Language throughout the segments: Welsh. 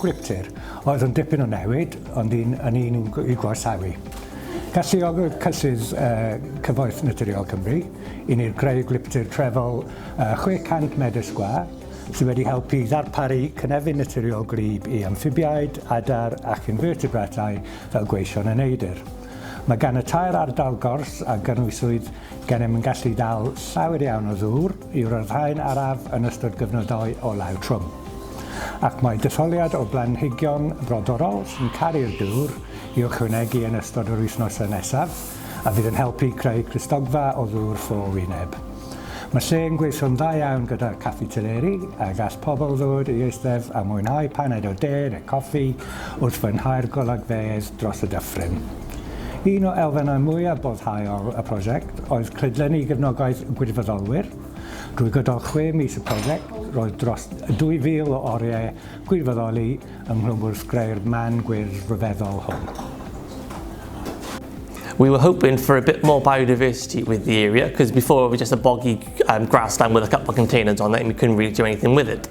Gwiptir, oedd yn dipyn o newid, ond un yn un i'w gorsawi. Galluogodd cyllydd Cyfoeth Naturiol Cymru i ni greu gwiptir trefol 600 medr sgwâr sydd wedi helpu i ddarparu cynefin naturiol gwlyb i amffibiaid, adar ac infertebratau fel gweision a neidr. Mae gan y tair ardal gors a gynhwyswyd gennym yn gallu dal llawer iawn o ddŵr, i ryddhau'n araf yn ystod gyfnodau olau'r trwm, ac mae detholiad o blanhigion brodorol sy'n caru'r dŵr i'w ychwanegu yn ystod yr wythnosau nesaf a fydd yn helpu creu clustogfa o ddŵr ffo wyneb. Mae lle yn gweithio'n dda iawn gyda'r Caffi Teleri a gall pobl ddod i eistedd a mwynhau paned o de neu coffi wrth fwynhau'r golygfeydd dros y dyffryn. Un o elfennau mwyaf boddhaol y prosiect oedd clydlenni gefnogaeth gwirfoddolwyr. Drwy gydol chwe mis y prosiect, roedd dros 2,000 o oriau gwirfoddoli ynghlwm wrth greu'r man gwyrdd ryfeddol hwn. We were hoping for a bit more biodiversity with the area because before it was just a boggy um, grassland with a couple of containers on it and we couldn't really do anything with it.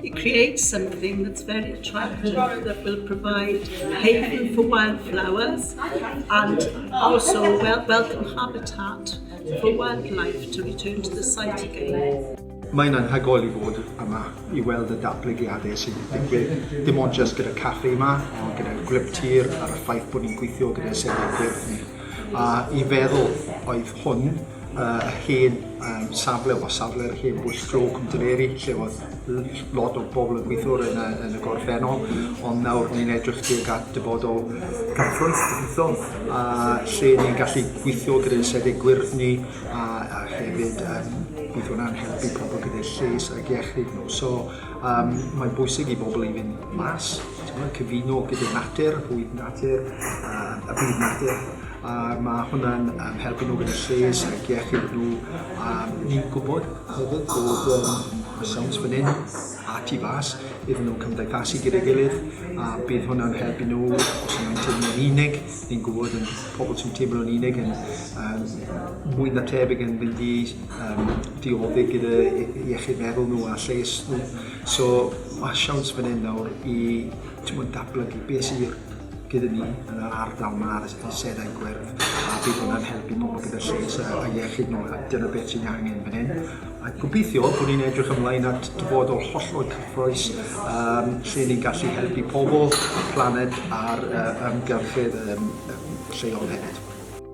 It creates something that's very attractive that will provide haven for wildflowers and also welcome habitat for wildlife to return to the site again. Mae'n anhygoel i fod yma i weld y datblygiadau sy'n digwydd, dim ond jyst gyda caffi yma, ond gyda'r gwlyp tir a'r ffaith bod ni'n gweithio gyda sefydliad ni. a i feddwl oedd hwn y uh, hen um, safle o safle'r hen bwys glo Cwmdreiri lle oedd lot o bobl yn gweithio yn y, yn y gorffennol ond nawr ni'n edrych tuag at dyfodol gadwraeth gobeithio a lle ni'n gallu gweithio gyda'n sefyd gwyrddni a, a hefyd um, bydd hwnna'n helpu pobl gyda'r lles ac iechyd nhw. So um, mae'n bwysig i bobl i fynd mas Timod, cyfuno gyda natur, bwyd natur, yym y byd natur, a ma' hwnna'n yym helpu nhw gyda lles ac iechyd nhw. A ni'n gwbod hefyd bod yym ma' siawns fan 'yn a tu fas iddyn nhw cymdeithasu gyda'i gilydd a bydd hwnna'n helpu nhw os ma' nhw'n teimlo'n unig. Ni'n gwbod yn pobol sy'n teimlo'n unig yn yym mwy na thebyg yn mynd i yym diodde' gyda i- iechyd meddwl nhw a lles nhw. So mae siawns fan hyn nawr i tmod, datblygu beth sydd i'r gyda ni yn yr ardal yma ar y seddau gwerth a bydd hwnna'n helpu pobl gyda lles a, a iechyd nhw a dyna beth sy'n angen fan hyn. A gobeithio bod ni'n edrych ymlaen at dyfodol hollol cyffroes um, lle ni'n gallu helpu pobl, y planed a'r uh, ymgyrchydd um, lleol hefyd.